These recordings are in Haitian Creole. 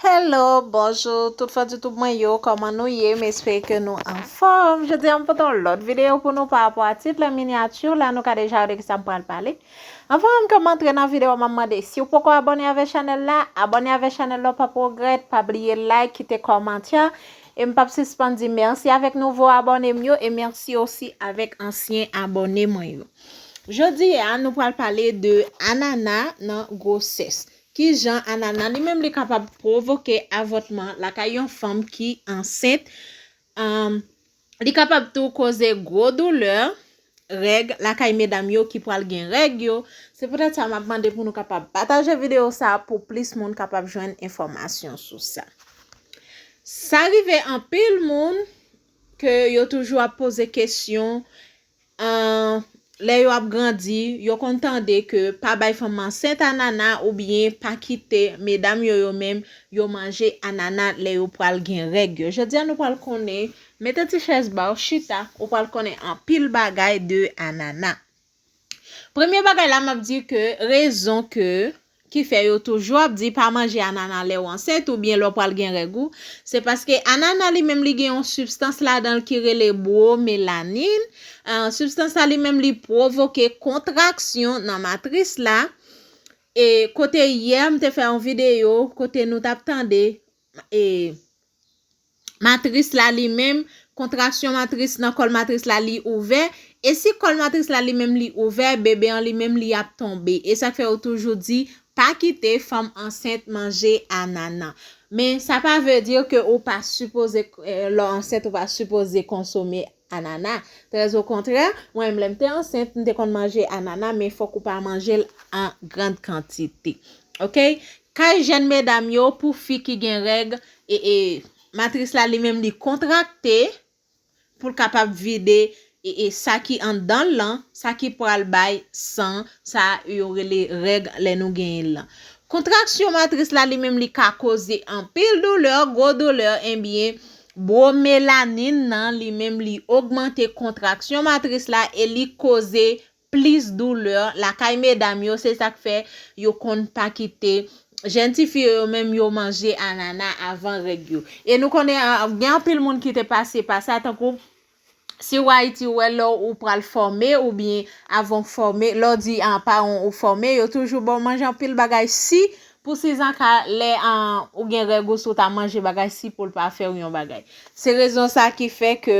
Hello bonjour tout fans YouTube mwen yo kòman nou ye m espere ke nou anfòm jodi a m pote yon lòt videyo pou nou parapò a tit la miniature la nou ka deja wè de kisa m pral pale anvan ke m antre nan videyo map mande si w poko abòne avè chanèl la abòne avè chanèl la w pap regrèt pa bliye like kite kòmantè e m pap sispann di mèsi avèk nouvo abòne m yo e mèsi osi avèk ansyen abòne mwen yo jodi a nou pral pale de anana nan gwosès Ki jan anana li menm li kapab pwovoke avòtman lakay yon fanm ki ansent, li kapab tou koze gwo doulè règ lakay medam yo ki pral gen règ yo, se poutèt sa map mande pou nou kapab pataje videyo sa pou plis moun kapab jwenn enfòmasyon sou sa. Sa rive anpil moun ke yo toujou ap poze kesyon Ahh lè yo ap grandi yo konn tande ke pa bay fanm ansent anana oubyen pa kite medam yo yo menm yo manje anana lè yo pral gen règ yo jodia nou pral konnen mete ti chèz baw chita ou pral konnen anpil bagay de anana premye bagay la map di ke rezon ke ki fè yo toujou ap di pa manje anana lèw ansent ou byen lè w pral gen règ ou, se paske anana li menm li gen yon sibstans ladanl ki rele bromelanin, sibstans sa li menm li pwovoke kontraksyon nan matris la, e kote yè m te fè yon videyo kote nou tap tande matris la li menm, kontraksyon matris nan kòl matris la li ouvè, e si kòl matris la li menm li ouvè, bebe an li menm li ap tonbe. E sa k fè yo toujou di, pa kite fanm ansent manje anana. Men sa pa vle di ke ou pa sipoze, lè w ansent ou pa sipoze konsome Anana. Trè zo kontrè, mwen menm lè m te ansent, m te konn manje anana men fòk ou pa manje l an grand kantite. Ok. Kay jèn medam yo pou fi ki gen règ, e e matris la li menm li kontrakte pou l kapab vide e e sa ki anndan l lan, sa ki pral bay san sa yo rele règ lè nou genyen l lan. Kontraksyon matris la li menm li ka koze anpil doulè, gwo doulè, enbyen Bro melanin nan li menm li ogmante kontraksyon matris la e li koze plis douleur lakay medam yo se sak fè yo konn pa kite jèn ti fi yo yo menm yo manje anana avan règ yo e nou konnen gen anpil moun ki te pase pa sa tankou Siw ayiti ou wè lè ou pral fòme ou byen avan ou fòme lè ou di paranw ou fòme yo toujou baw manje anpil bagay si pou sizanka lè ou gen règ ou si ou ta manje bagay si poul pa fèw yon bagay se rezon sa ki fè ke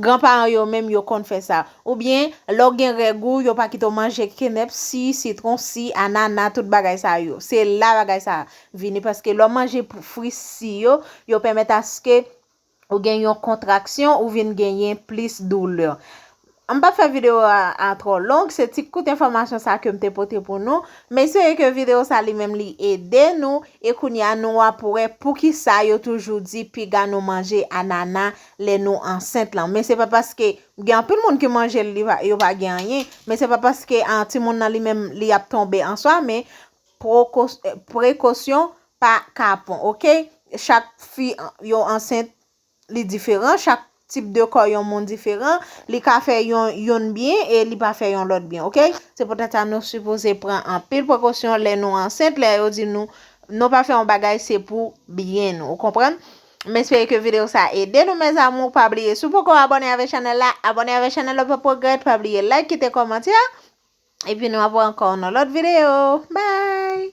gran paran yo menm yo konn fè sa ou byen lè ou gen règ ou yo pa kite ou manje kenèp si sitron si anana tout bagay sa yo se la bagay sa vini paske lè ou manje fri si yo yo pèmèt aske Ou gen yon kontraksyon ou vin genyen plis doulè. M pap fè video a trò long, se ti kout enfòmasyon sa ke m te pote pou nou. M espere ke video sa li menm li ede nou e kounye a nou ap wè poukisa yo toujou di piga nou manje anana lè nou ansent lan. Men se pa paske, gen anpil moun ki manje l yo pa gen anyen, men se pa paske timoun nan li menm li ap tonbe an swa men Prekosyon pa kapon ok. Chak fi yo ansent li diferan, chak tip de kò yon moun diferan, li ka fè yon youn byen e li pa fè yon lòt byen ok. Se poutèt sa nou sipoze pran anpil prekosyon lè nou ansent, lè yo di nou nou pa fè yon bagay se pou byen nou ou konprann. M espere ke video sa ede nou mes amour, pa bliye si w poko abone avè chanèl la, abone avè chanèl la ou pap regrèt, pa bliye like, kite kòmantè. Epi nou ap wè ankò nan lòt videyo. Bye!